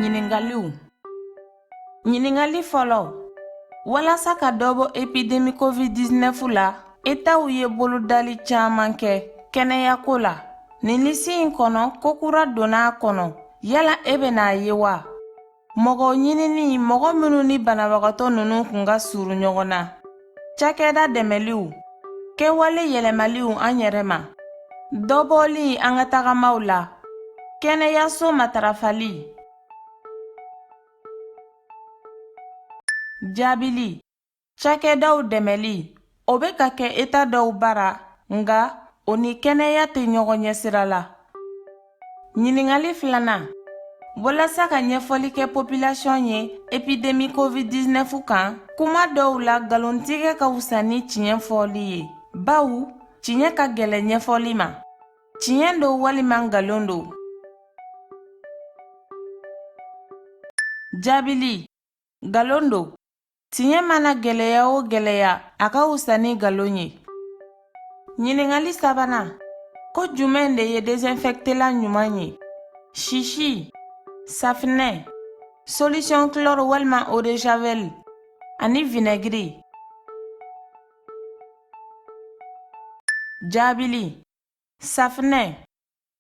Ɲiningaliw Ɲiningali fɔlɔ Walasa ka dɔ bɔ epidemi COVID-19 la, Etaw ye bolodali caman kɛ kɛnɛyako la. Nin lisi in kɔnɔ, ko kura donna a kɔnɔ. Yala e bɛna a ye wa? Mɔgɔ ɲinini, mɔgɔ minnu ni banabagatɔ ninnu kun ka surun ɲɔgɔn na. cakɛda dɛmɛliw, kɛwale yɛlɛmaliw an yɛrɛ ma, dɔbɔli an ka tagamaw la, kɛnɛyaso matarafali, jaabili, cakɛdaw dɛmɛli, o bɛ ka kɛ eta dɔw bara, nka o ni kɛnɛya tɛ ɲɔgɔn ɲɛsira la. Ɲininkali filanan walasa ka ɲɛfɔli kɛ popilasiyɔn ye epidemi covid-19 kan kuma dɔw la nkalontigɛ ka wusa ni tiɲɛ fɔli ye bawo tiɲɛ ka gɛlɛn ɲɛfɔli ma tiɲɛ don walima nkalon don jaabili nkalon don Tiɲɛ mana gɛlɛya o gɛlɛya a ka wusa ni nkalon ye ɲininkali sabanan ko jumɛn de ye desinfɛktela ɲuman ye sisi safinɛ solution chlore walima eau de javel ani vinɛgiri jaabili safinɛ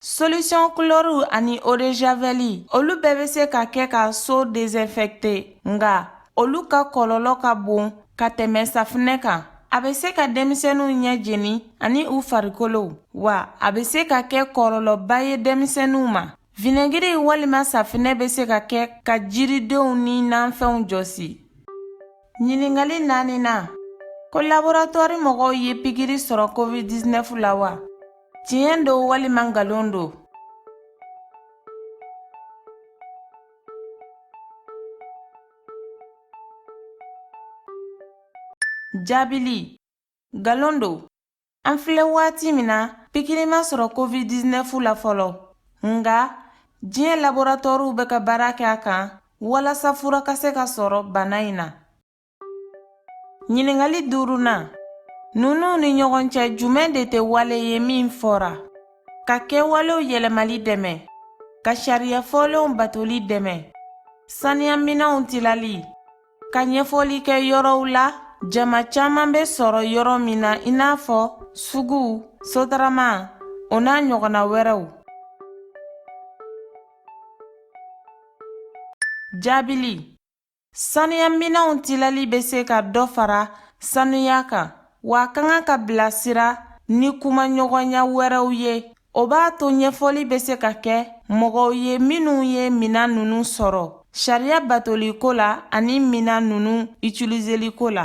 Solution chlore ani eau de javel olu bɛɛ bɛ se ka kɛ ka so désinfecter nka olu ka kɔlɔlɔ ka bon ka tɛmɛ safinɛ kan. A bɛ se ka denmisɛnninw ɲɛ jeni ani u farikolow, wa a bɛ se ka kɛ kɔlɔlɔba ye denmisɛnninw ma. Vinɛgiri walima safinɛ bɛ se ka kɛ ka jiridenw ni nanfɛnw jɔsi. Ɲininkali naaninan, ko laboratwari mɔgɔw ye pikiri sɔrɔ COVID-19 la wa? Tiɲɛ don walima nkalon don? Jaabili, nkalon don. An filɛ waati min na pikiri ma sɔrɔ covid-19 la fɔlɔ nka diɲɛ laboratɔriw bɛ ka baara kɛ a kan walasa fura ka se ka sɔrɔ bana in na ɲininkali duurunan ninnu ni ɲɔgɔn cɛ jumɛn de tɛ wale ye min fɔra ka kɛwalew yɛlɛmali dɛmɛ ka sariya fɔlenw batoli dɛmɛ saniyaminɛnw tilali ka ɲɛfɔli kɛ yɔrɔw la jama caman bɛ sɔrɔ yɔrɔ min na i n'a fɔ suguw sotarama o n'a ɲɔgɔnna wɛrɛw jaabili sanuyaminɛnw tilali bɛ se ka dɔ fara sanuya kan wa a ka kan ka bilasira ni kumaɲɔgɔnya wɛrɛw ye O b'a to ɲɛfɔli bɛ se ka kɛ mɔgɔw ye minnu ye minɛn ninnu sɔrɔ sariya batoliko la ani minɛn ninnu utiliseliko la.